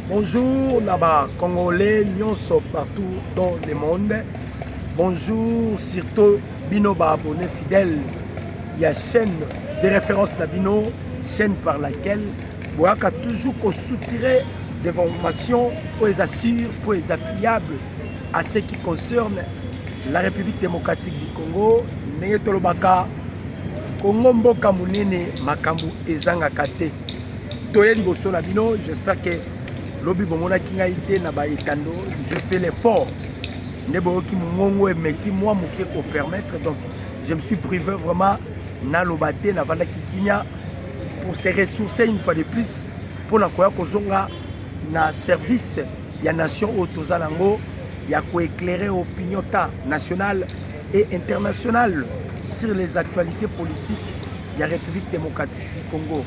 Bonjour na ba congolais nyonso partout dans le monde. Bonjour surtout bino ba abonnés fidèles ya chaîne de référence na bino, chaîne par laquelle boyaka toujours ko soutirer des formations pour les assure, pour les affiliables à ce qui concerne la République démocratique du Congo. Ndenge tolobaka Congo mboka munene makambo ezangaka te. Toye liboso na bino, j'espère que lobi bomonaki ngai te na ba etando, je fais l'effort. Nde boyoki mongongo emeki mwa moke ko permettre donc je me suis privé vraiment naloba te navandaki kimia pour se ressourcer une fois de plus mpo na koya kozonga na service ya nation oyo toza nango ya koeclaire opinion ta nationale et internationale sur les actualités politiques ya république démocratique du congo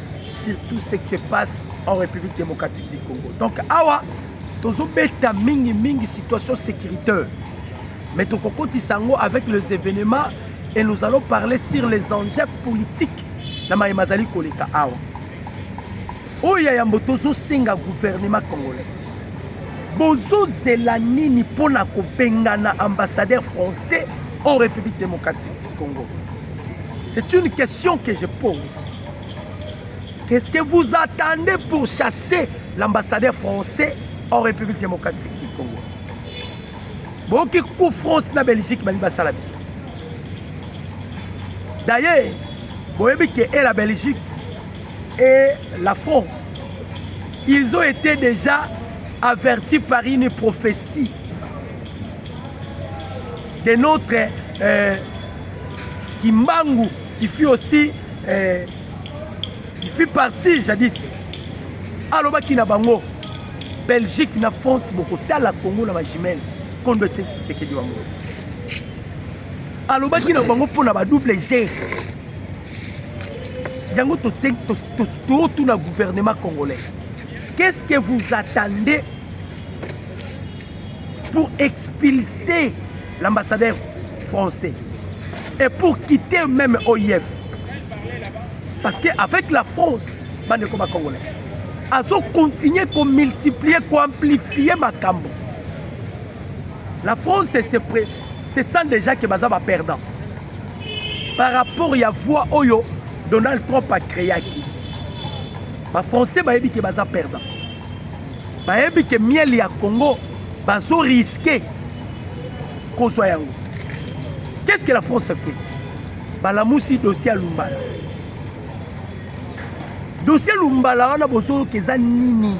sur tout ce qui se passe en République démocratique du Congo. Donc awa tozobeta mingi mingi situation sécuritaire mais tokokotisa yango avec les événements et nous allons parler sur les enjeux politiques na maye mazali koleka awa oyo ya yambo tozosenga gouvernement congolais bozozela nini mpo na kobengana ambassadeur français en république démocratique du congo c'est une question que je pose Qu'est-ce que vous attendez pour chasser l'ambassadeur français en République démocratique du Congo boyoki coup France na Belgique balingi basala biso d'ailleurs boyebi ke e la Belgique et la France ils ont été déjà avertis par une prophétie de notre euh, Kimbangu qui fut aussi eh, qui fut parti jadis alobaki na bango belgique na france bokotala congo na bajimele kondo etie tisekedi bango alobaki na bango mpo na badouble g yango totuna gouvernement congolais qu'est ce que vous attendez pour expulser L'ambassadeur français et pour quitter même OIF parce que avec la France bandeko ba congolais azo continuer ko multiplier ko amplifier makambo la France c'est se sent déjà que baza ba perdant par rapport ya voix oyo Donald Trump a créaki ba français bayebi ke baza perdant bayebi ke miel ya congo bazo riske kozwa yango qu'est ce que la france fait balamusi dossier ya lumbala dossier lumbala wana bozoyoka eza nini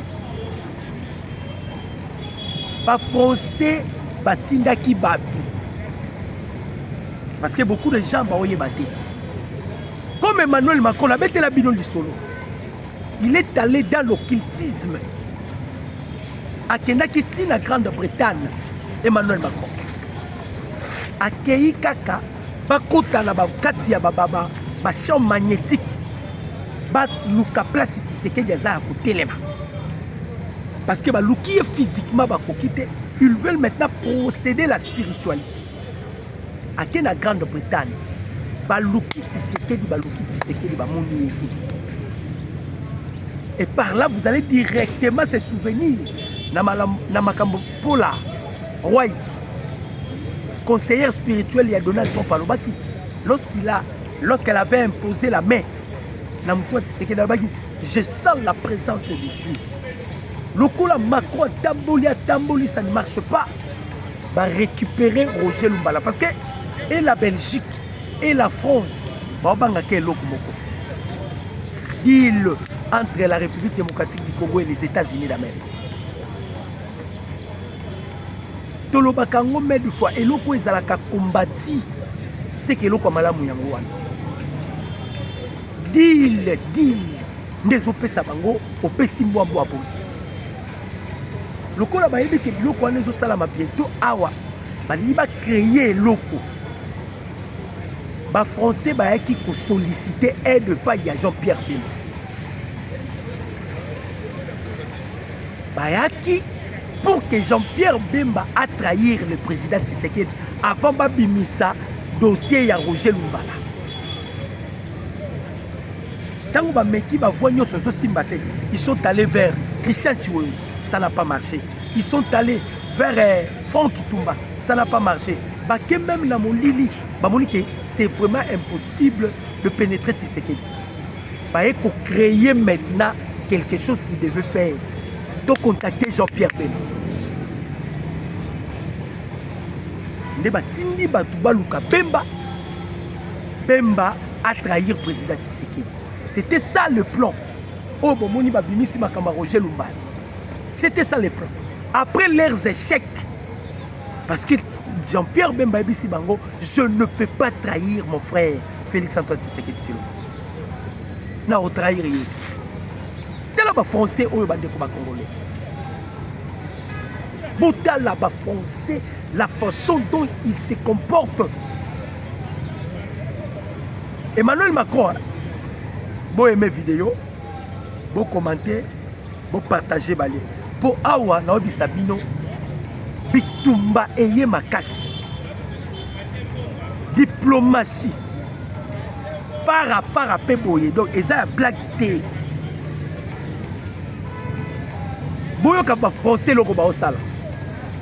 bafrançais batindaki bato parce que beaucoup de gens baoyeba te comme emmanuel macron abetela bino lisolo Il est allé dans l'occultisme. Akendaki ti na Grande-Bretagne, Emmanuel Macron. Akeyi kaka bakota na kati ya bababa ba champ magnétique baluka place Tshisekedi aza ya kotelema parce que baluki ye physiquement bakoki te ils veulent maintenant procéder la spiritualité ake na grande bretagne baluki tisekedi baluki tisekedi bamoni ye te et par là vous allez directement se souvenir na makambo mpola white conseillère spirituelle ya donald trump alobaki lorsqu'il a lorsqu'elle avait imposé la main na moto ya tisekedi alobaki je sens la présence de dieu lokola macro atamboli atambolisa ne marche pas Ba recuperer Roger Lumbala parce que et la Belgique et la France baobangaka eloko moko deal entre la République démocratique du Congo et les États-Unis d'Amérique tolobaka yango mai de fois eloko oyo ezalaka kombati seke eloko ya malamu yango wana deal deal nde ezopesa bango opesi mbwa mbwa bodi lokola bayebi ke biloko wana ezosalama bientôt awa balingi bacreye eloko bafrançais bayaki kosolicite aide epai ya jean pierre bemba bayaki pour que jean pierre bemba atrahir le président tisekedi avant babimisa dossier ya roger lumbala Tango ba meki ba voix nyoso ezo simba te, ils sont allés vers Christian Chiwewe, ça n'a pas marché. Ils sont allés vers euh, Franck Kitumba, ça n'a pas marché. Bake même na molili, bamoni que c'est vraiment impossible de pénétrer Tshisekedi. Baye ko créer maintenant quelque chose qui devait faire. To contacter Jean-Pierre Bemba. Nde batindi bato baluka Bemba Bemba a trahir président Tshisekedi. C'était ça le plan. Oh, bon, moni babimisi makamba Roger Lumbala. C'était ça le plan. Après leurs échecs, parce que Jean-Pierre Bemba Ebisi Bango, je ne peux pas trahir mon frère Félix Antoine Tshisekedi Tshilombo. Na trahir ye. Tala ba français oyo bandeko ba congolais. Botala ba français la façon dont ils se comportent Emmanuel Macron, bo aimé vidéo, bo commenter, bo partager bale. Po awa na obisa bino bitumba eye makasi. Diplomatie para para pe boye donc eza ya blague te. Boyoka ba français loko ba osala.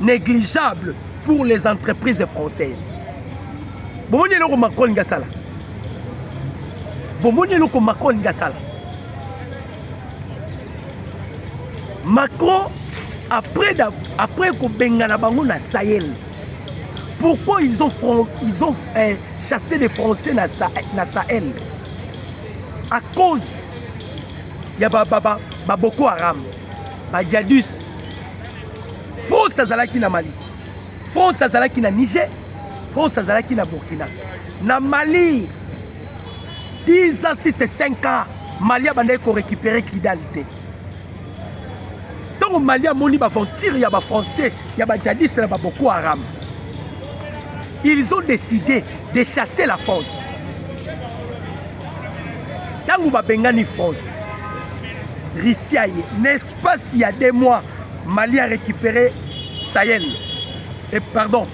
négligeable pour les entreprises françaises bomoni eloko macron alingi asala bomoni eloko macron alingi asala macron après, après kobengana bango na sahel pourquoi ils ont, ils ont eh, chassé les français na, na sahel à cause ya baboko ba, ba, ba haram bajadus france azalaki na mali france azalaki na niger france azalaki na burkina na mali 10 ans 6 et 5 ans mali abandaki korécupere kidal te ntango mali amoni baventure ya bafrançais ya bajadiste na baboko haram ils ont décidé de chasser la france ntango babengani france russie aye na espace ya deux mois mali a récupéré sahel et pardon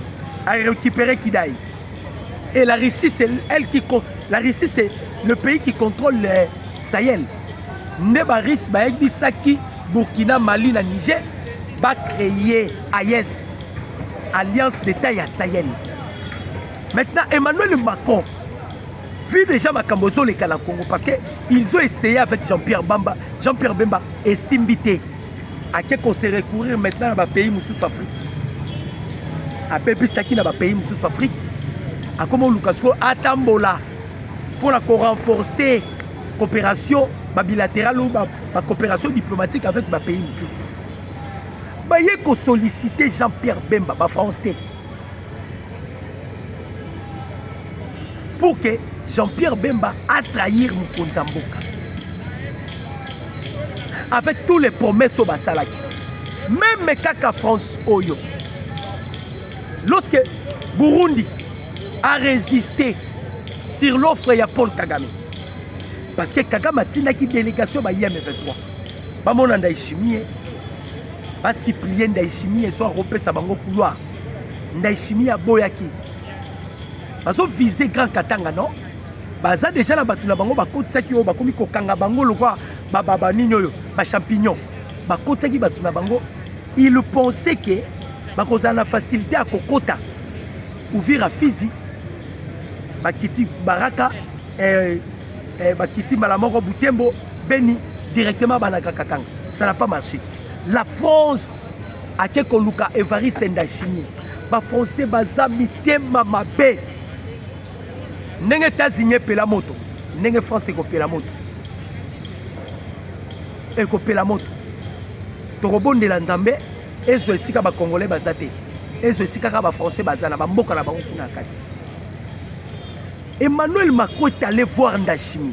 a récupéré kidai et la russie c'est elle qui la russie c'est le pays qui contrôle le euh, sahel nde barusse bayebisaki burkina mali na niger bacreye ayes alliance d'état ya sahel maintenant emmanuel macron Vu déjà makambo ezoleka na Congo parce que ils ont essayé avec Jean-Pierre Bamba, Jean-Pierre Bemba esimbi te. Ake ko se recourir maintenant na ba pays mosusu Afrique. Abebisaki na ba pays mosusu Afrique. Akoma oluka siko atambola mpo na ko renforcer coopération ba bilaterale ou ba, ba coopération diplomatique avec ba pays mosusu. Baye ko solliciter Jean-Pierre Bemba ba français. pour que Jean-Pierre Bemba a trahir mokonzi ya mboka avec tous les promesses oyo basalaki meme kaka France oyo lorsque Burundi a résisté sur l'offre ya Paul Kagame parce que Kagame atindaki délégation ba IM23 bamona Ndayishimiye basiplie Ndayishimiye so akopesa bango couloir Ndayishimiye aboyaki bazo vise grand katanga non baza deja na bato na bango bakotisaki oyo bakomi kokanga bango lokwa bababa nini oyo bachampignon bakotisaki bato na bango il pensait ke bakozala na facilité ya kokota uvira fizi bakiti baraka eh, eh, bakiti mbala moko butembo beni directement banaka katanga ça n'a pas marché la france ake koluka evariste ndashimi bafrançais baza mitema mabe ndenge etats-unis epela moto ndenge france ekopela moto ekopela moto tokobondela nzambe ezwa esika bacongolais baza te ezwa esika kaka bafrançais baza na bamboka na bango kuna kati emmanuel macron est allé voir ndashimi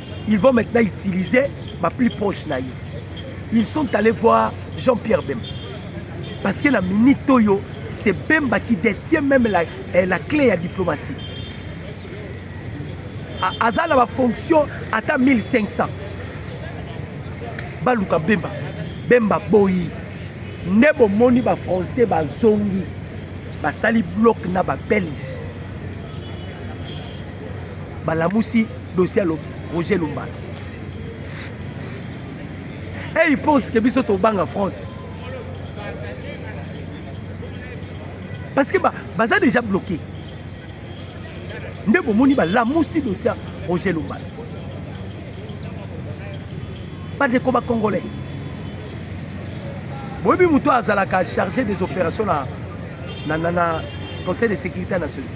Ils vont maintenant utiliser ba plus proche na ye. Ils sont allés voir Jean-Pierre Bemba. Parce que la minute oyo, c'est Bemba qui détient même la, eh, la clé ya diplomatie. Aza na ba fonction ata 1500. Baluka Bemba. Bemba boyi. Nde bomoni ba français bazongi. Basali bloc na ba belge. Balamusi dossier ya roger lumbala et il pense que biso tobanga france parce que baza déjà bloqué nde bomoni balamusi dossier ya roger lumbala bandeko bacongolais boyebi moto azalaka chargé des opérations na, na, na, na conseil de sécurité ya nations unis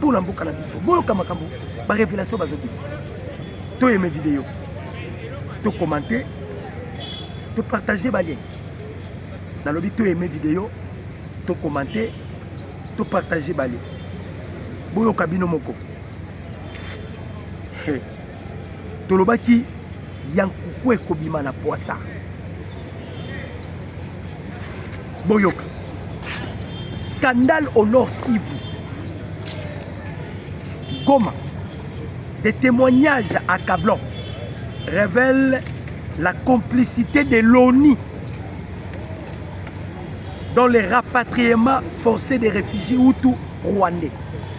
Pour na mboka na biso boyoka makambo ba revelation bazobima toyeme video to commente to partage balien nalobi toyeme video to commente to partage balien boyoka bino moko hey. tolobaki ya nkuku ekobima na pwasa boyoka scandale au nord kivu goma des témoignages accablants révèlent la complicité de l'ONI dans les rapatriements forcés des réfugiés hutus rwandais.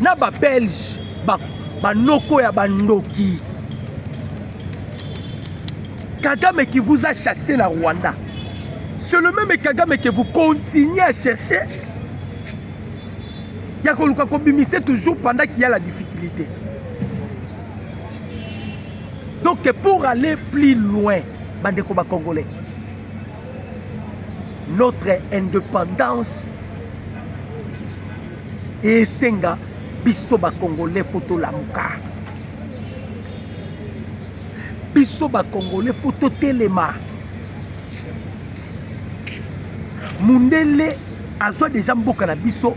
na ba belge ba banoko ya bandoki kagame qui vous a chassé na rwanda c'est le même kagame que vous continuez à chercher ya koluka kobimise toujours pendant qu'il y a la difficulté donc pour aller plus loin bandeko bacongolais notre indépendance Esenga biso ba congolais faut tolamuka, biso ba congolais faut totelema. Mundele azwa deja mboka na biso,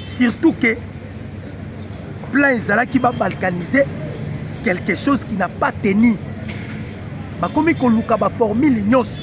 surtout que plan ezalaki ba balkaniser quelque chose qui n'a pas tenu, bakomi koluka ba formule nyonso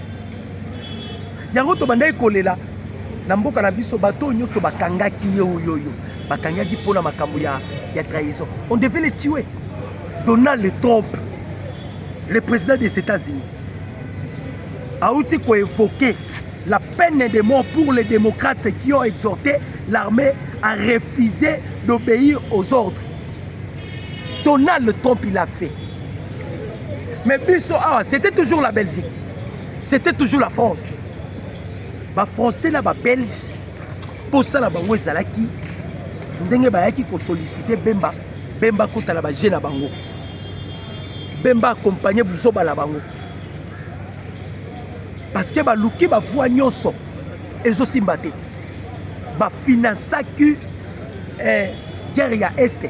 yango tobandaki kolela na mboka na biso bato oyo nyonso bakangaki ye oyoyo bakangaki mpo na makambo ya, ya trahison on devait le tue donald trump le président des états-unis auti koévoke la peine de mort pour les démocrates qui ont exhorté l'armée à refuser d'obéir aux ordres donald trump il a fait mais biso awa c'était toujours la belgique c'était toujours la france bafrançais na babelge mposala bango ezalaki ndenge bayaki kosolicite bemba bemba akota na baje na bango bemba akompagne buzoba na bango parce que baluki bavua nyonso ezosimba te bafinansaki eh, guerre ya este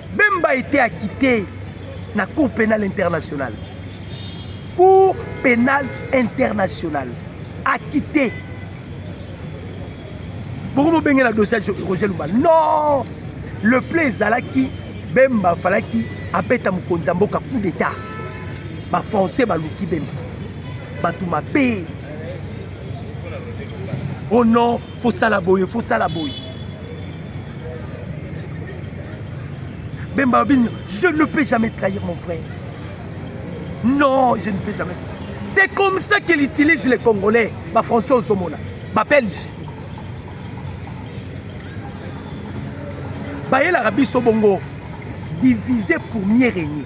Bemba était acquitté na Cour pénale internationale. Cour pénale internationale. Acquitté. Pourquoi vous bengez la dossier Roger Lumba Non Le play ezalaki Bemba falaki abeta mokonzi ya mboka coup d'état. Ba français baluki Bemba. Bato mabe. Oh non faut sala boye faut sala boye bemba babini je ne peux jamais trahir mon frère non je ne peux jamais c'est comme ça qu'il utilise les congolais bafrançais ozomona babelge bayelaka biso bongo diviser pour mieux régner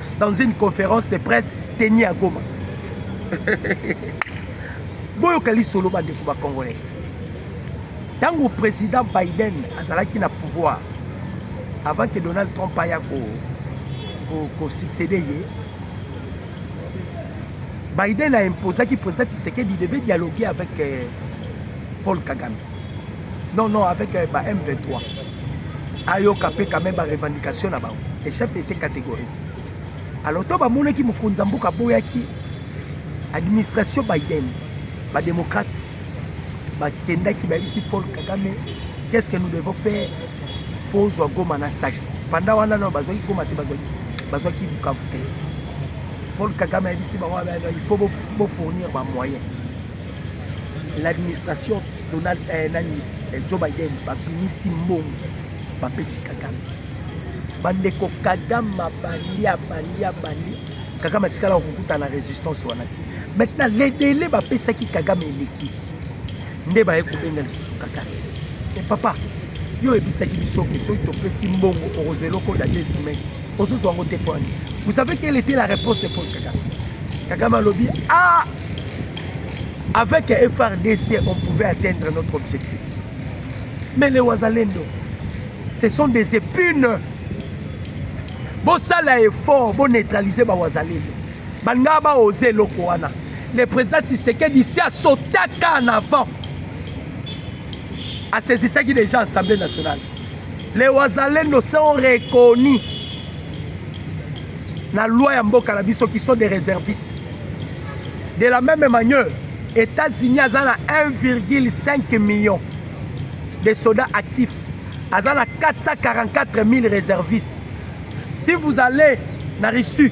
dans une conférence de presse teni ya goma boyoka lisolo bandeko bacongolais ntango président biden azalaki na pouvoir avant que donald trump aya kosuccéde ko, ko ye biden a imposaki président tisekedi devait dialoguer avec euh, paul kagame non non avec euh, ba m23 ayoka mpe quand même ba revendication na bango le chef était catégorique alors to bamonaki mokonzi ya mboka aboyaki administration biden badémocrate bakendaki bayebisi paul kagame qu'est ce que nous devons faire mpo ozwa goma na saki panda wana nao bazwaki goma te bazwaki bukavu te paul kagame ayebisi bango il faut bofournir bamoyen L'administration Donald eh, nani eh, Joe Biden babimisi mbongo bapesi Kagame. Bandeko Kagame abandi abandi abandi, Kagame atikala kokuta na resistance wana te. Maintenant les délais bapesaki Kagame eleki nde baye kobenga lisusu Kagame. E papa yo oyebisaki biso ke soki topesi mbongo okozwa eloko ya 2 semaine ozozwa yango te pwani vous savez quelle était la réponse de paul kagame kagame alobi ah avec frdc on pouvait atteindre notre objectif mais les wazalendo ce sont des épines bosala effort boneutralise bawazalendo balingaa baoze eloko wana le président tisekedi si asotaka en avant asaisissaki déjà assemblée nationale Les Wazalendo sont reconnus na loi ya mboka na biso qui sont des réservistes. De la même manière, États-Unis aza na 1,5 million de soldats actifs. Aza na 444 000 réservistes. Si vous allez na Russie,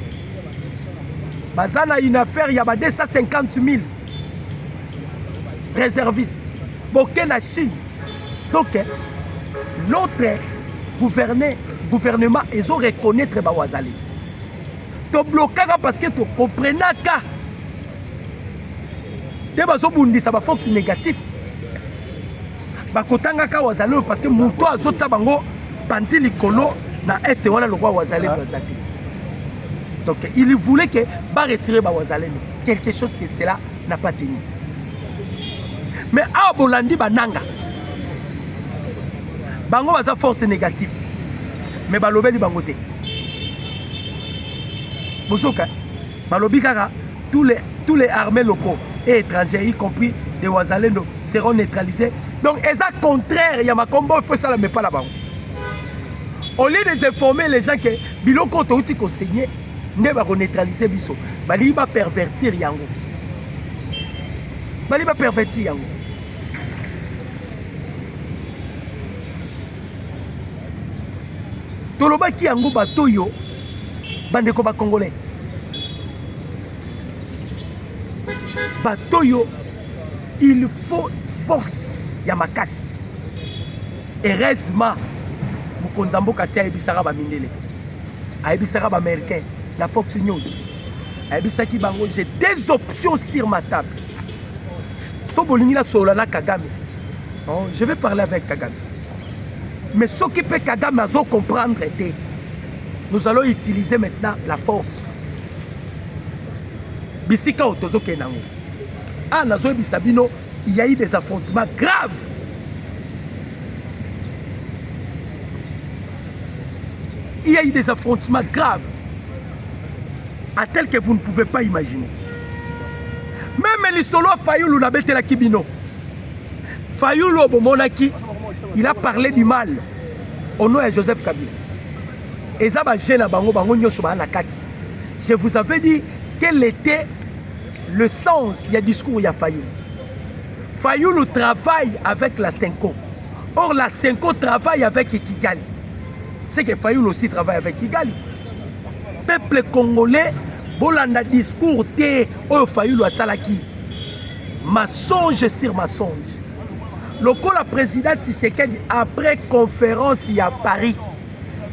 baza na une affaire ya ba 250 000 réservistes. Boke na Chine, Donc, notre gouverner, gouvernement, ils ont reconnaître Bawazali. To blocaka parce que to comprenaka. Te bazo bundisa ba fox négatif. Ba kotanga ka wazali parce que muto azo tsa bango panzi likolo na est wana lokwa wazali bazaki. Donc il voulait que ba retirer ba wazali quelque chose que cela na pateni me awa bolandi bananga bango baza force négative me balobeli bango te bozoka balobi kaka tous les, tous les armées locaux et étrangers y compris des wazalendo seront neutralisés donc eza contraire ya makombo oyo fo esalama epa na bango au lieu de informer les gens ke biloko oyo touti koseigne nde bako neutraliser biso balingi ba pervertir yango balingi ba pervertir yango tolobaki yango bato oyo bandeko bacongolais bato oyo il faut force ya makasi heureusement mokonzi ya mboka si ayebisaka bamindele ayebisaka ba américain na fox news ayebisaki bango j'ai deux options sur ma table so bolingi nasolola na kagame oh, je vais parler avec kagame mais soki mpe kagame azo comprendre te nous allons utiliser maintenant la force bisika oyo tozokende yango a ah, nazoyebisa bino il y a eu des affrontements graves il y a eu des affrontements graves à tel que vous ne pouvez pas imaginer meme lisolo ya fayulu nabetelaki bino fayulu oyo bomonaki il a parlé du mal au nom ya joseph kabila eza baje na bango bango nyonso baa na kati je vous avais dit quel était le sens ya discours ya fayulu fayulu travaille avec la senco Or, la Senko travaille avec Kigali. C'est que Fayoul aussi travaille avec Kigali. Peuple congolais, bolanda discours te oyo Fayoul asalaki. Mensonge sur mensonge. Lokola président Tshisekedi après conférence à Paris.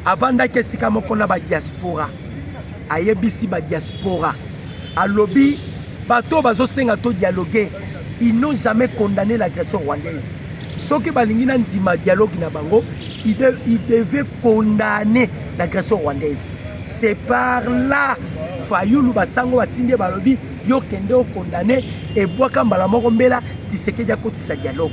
avandaki esika moko na badiaspora ayebisi badiaspora alobi bato oyo bazosenga to dialogue ils n'ont jamais condamné l'agression rwandaise soki balingi na ndima dialogue na bango ils devaient condamner l'agression rwandaise c'est par là fayulu basango batindi balobi yo kende okondane ebwaka mbala moko mbela tisekedi akotisa dialogue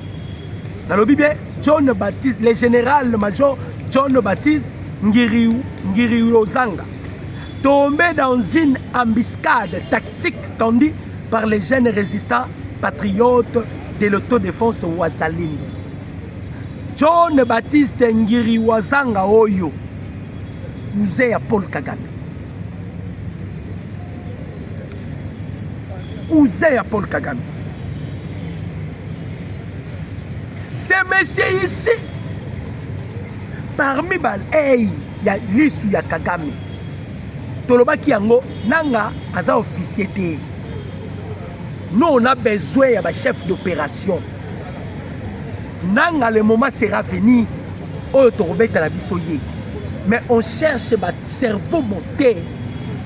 nalobi bien john baptiste le général major john baptiste ngiriozanga tombé dans une embuscade tactique tendue par les jeunes résistants patriotes de l'autodéfense wazalini john baptiste ngiri wazanga oyo muze ya paul kagame cousin ya paul kagame ce monsieur ici parmi balei ya lisu ya kagame tolobaki yango nanga aza officier te nous on a besoin ya bachef d'opération nanga le moment sera venu oyo tokobetala biso ye mais on cherche bacerveau mote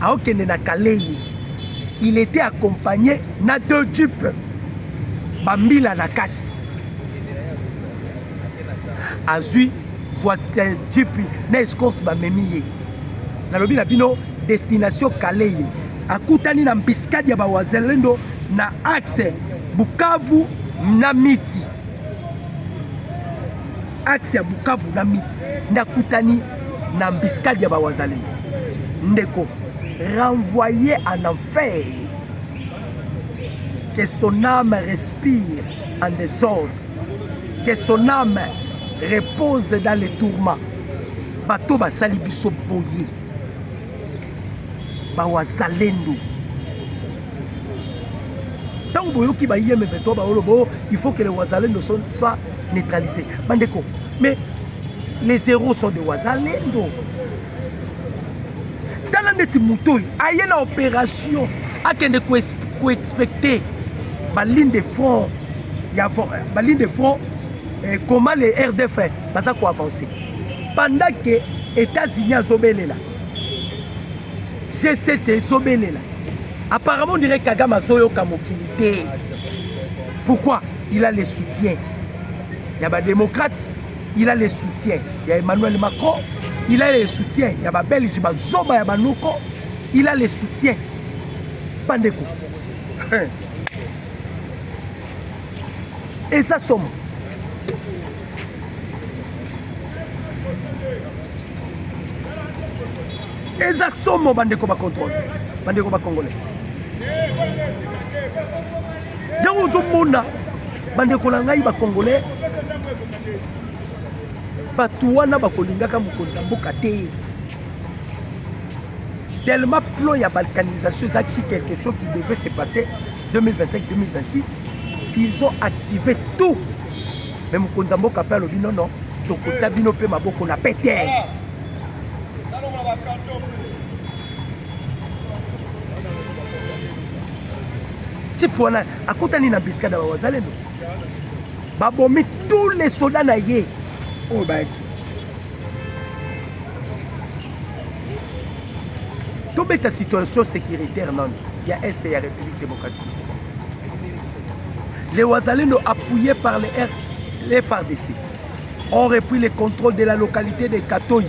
aokende na kalei il était accompagné na deux jeep bambila na kati azwi voiture jeep na escorte bamemi ye nalobi na bino destination kalei akutani na mbiskadi ya bawazelendo na axe bukavu na miti axe ya bukavu na miti nde akutani na embuscade ya ba wazalendo ndeko renvoyer en enfer que son âme respire en désordre que son âme repose dans les tourments bato basali biso boye bawazalendo ntango boyoki bayeme 23 baolobo il faut que le wazalendo soit neutralise bandeko mais les héros sont de wazalendo tala ndeti moto oyo aye na opération akende koexpecte baligne de front ya baligne de front eh, comment les rdf baza koavance pendant ke états-unis azobelela g7 ezobelela apparemment dirait kagame azoyoka mokili te pourquoi il a le soutien ya ba democrate il a le soutien ya emmanuel macron il a le soutien ya ba belge bazoba ya banoko il a le soutien bandeko eza somo eza somo bandeko bacontrole bandeko bacongolais yango ozomona bandeko na ngai bacongolais bato wana bakolingaka mokonzi ya mboka te tellement plan ya balkanisation ezalaki quelque chose qui devait se passer 2025 2026 ils ont activé tout mais mokonzi ya mboka mpe alobi nono tokotia bino mpe maboko na pete type wana akutani na biskada ba wazalendo babomi tous les soda na ye oyo bayaki tobeta situation sécuritaire nano ya est ya république démocratique les wazalendo appuyé par les, R, les fardc ont repris le contrôle de la localité de katoyi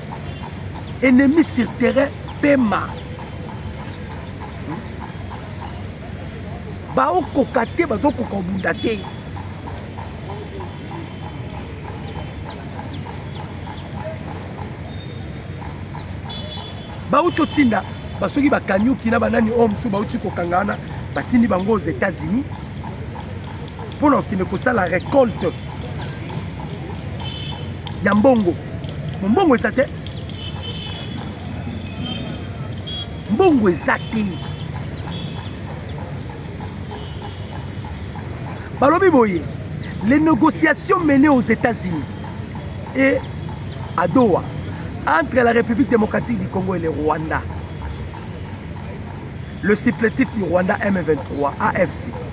ennemi sur terrain pema baokoka te bazokoka kobunda te bauti otinda basoki bakanyuki na banani oyo mosusu bauti kokanga wana batindi bango aux états-unis mpo na kokende kosala recolte ya mbongo mbongo eza te mbongo eza te balobi boye les négociations menées aux états-unis et à doha entre la république démocratique du congo et le rwanda le supplétif du rwanda m23 afc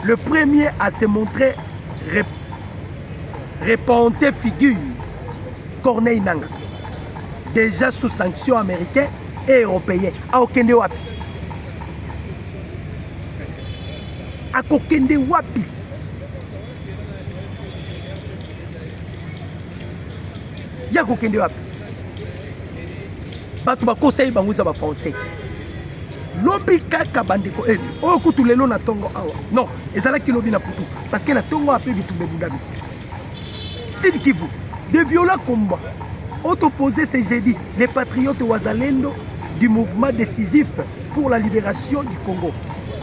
Le premier à se montrer rep repente figure Corneille Nanga déjà sous sanction américain et européen akokende wapi akokende wapi ye akokende wapi bato bakosa ye bango eza bafrançais lobi kaka bandeko eni eh, oyo kutu lelo na ntongo awa non ezalaki lobi na putu parce que na ntongo awa mpe bitumba ebundami sud kivu de viola combat autoposé ce jeudi les patriotes wazalendo du mouvement décisif pour la libération du congo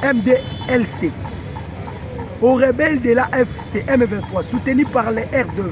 mdlc aux rebelles de la fcm 23 soutenus par les r2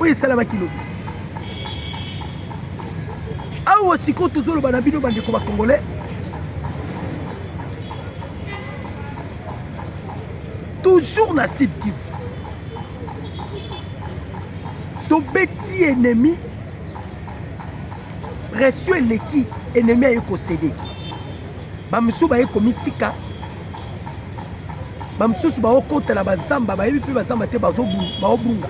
oyo esalamaki lobi awa sikoyo tozoloba na bino bandeko bakongole toujours na sud kivu tobeti ennemi pression eleki ennemi aye kosede bamosusu baye komitika bamosusu baokota na bazamba bayebi mpe bazamba te baobunga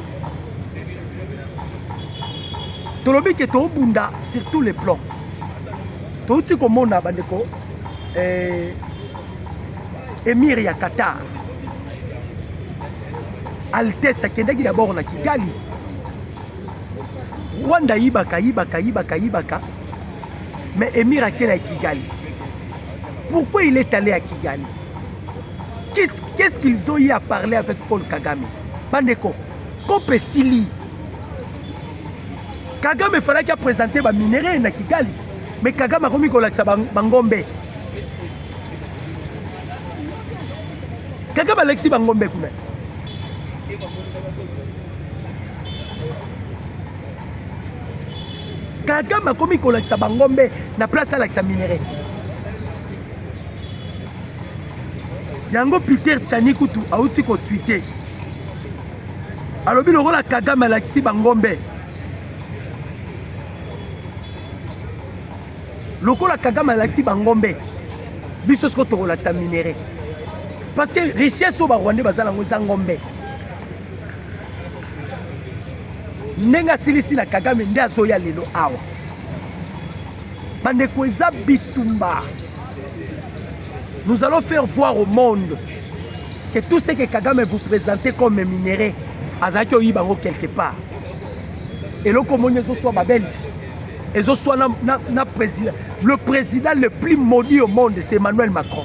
tolobi ke toobunda sur tous les plans touti komona bandeko eh, emir ya qatar altesse akendaki dabord na kigali rwanda ayibaka ayibaka ayibaka ayibaka mais emir akenda ya kigali Pourquoi il est allé à Kigali Qu'est-ce qu qu'ils ont eu à parler avec Paul Kagame Bandeko, COP esili. Kagame falaki apresente baminerai na Kigali, mais Kagame akomi kolakisa bangombe. Kagame alakisi bangombe kuna. kagame akomi kolakisa bangombe na place alakisa minerai yango peter chani kutu auti kotwite alobi lokola kagame alakisi bangombe lokola kagame alakisi bangombe biso siko tokolakisa minerai parce que richesse oyo barwandais baza nango eza ngombe ndenge asilisi na kagame nde azoya lelo awa bandeko eza bitumba nous allons faire voir au monde que tout ce que kagame vous présente comme minerai azalaki oyiba yango quelque part eloko omoni ezoswa babelge ezoswa na, na, na président le président le plus maudit au monde c'est emmanuel macron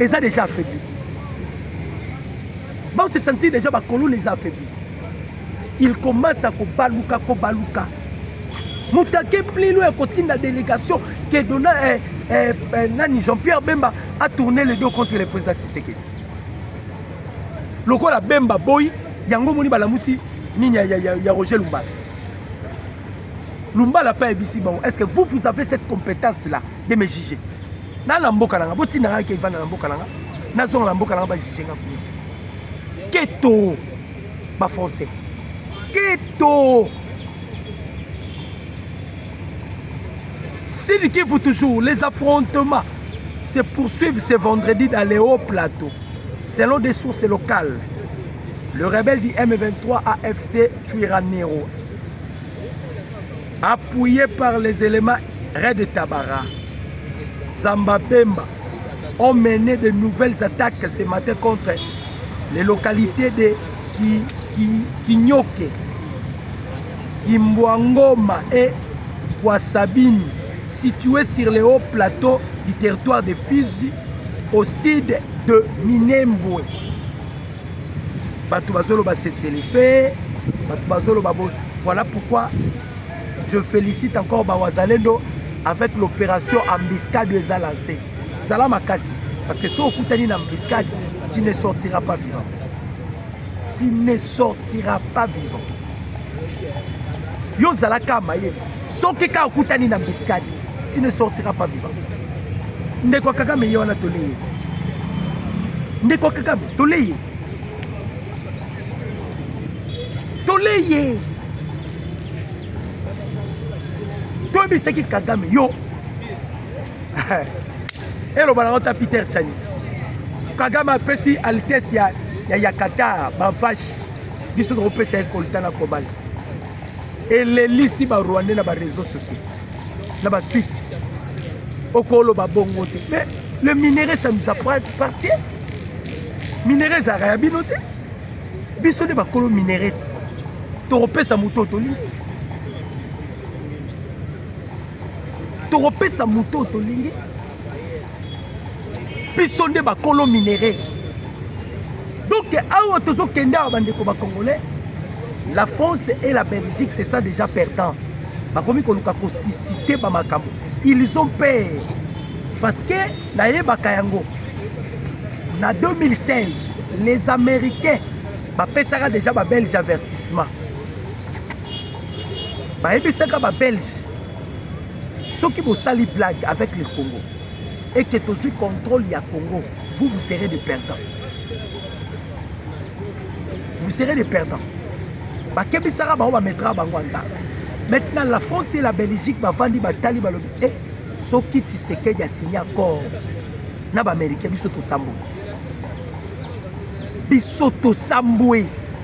eza deja affaibli bao se sentir deja bakolona eza affaibli il commence à kobaluka kobaluka motake plilo ya kotinda délégation ke dona eh, eh, eh, nani jean pierre bemba a tourné le dos contre le président tisekedi lokola bemba boyi yango omoni balamusi nini ya, ya, ya, ya roger lumbala lumbala mpe ayebisi bango est ce que vous vous avez cette compétence là de me juger na na mboka nanga botinda ngai kevanda na mboka nanga nazonga na mboka nanga bajuge nga kuna keto bafrançais keto Sidi Kivu toujours, les affrontements se poursuivent ce vendredi dans les hauts plateaux. Selon des sources locales, le rebelle du M23 AFC Tuiranero Appuye par les elements Red Tabara, Zamba Bemba ont mené de nouvelles attaques ce matin contre les localités de Ki, Ki, Kinyoke, Kimbwangoma et Kwasabini, situées sur les hauts plateaux du territoire de Fizi, au sud de Minembwe. bato bazoloba seselefe bato bazoloba bo voilà pourquoi je félicite encore bawazalendo avec l'opération embuscade oyo eza lancé zala makasi parce que soki okutani na embuscade tu ne sortira pas vivant tu ne sortira pas vivant yo ozalaka mayele soki kaka okutani na embuscade tu ne sortira pas vivant ndeko kakame ye wana tole ye ndeko kakame tole ye tole ye toyebisaki kagame yo eloba nango ta peter chani kagame apesi altesse ya, ya, ya qatar bavache biso tokopesa ye kolta na kobala elelisi barwandais na bareseau sociaux na ba tweet okoloba bongo te mais le minerai ça nous appartient minerai ezalaka ya bino te biso nde bakolo minerai te tokopesa moto tolingi tokopesa moto tolingi biso nde bakolo minerais donc awa tozokende awa bandeko bacongolais la france et la belgique c'est ça déjà perdant bakomi koluka kosisite bamakambo ils ont peur parce que nayebaka yango na 2016 les américains bapesaka déjà babelge avertissement bayebisaka babelge soki bosali blague avec le congo et que tozwi contrôle ya congo vous vous serez de perdant vous serez de perdant bakebisaka bango bametraka bango anda maintenant la france et la belgique bavandi batali balobi e eh, soki tisekedi asigne accord na baaméricain biso tosambwe biso tosambwe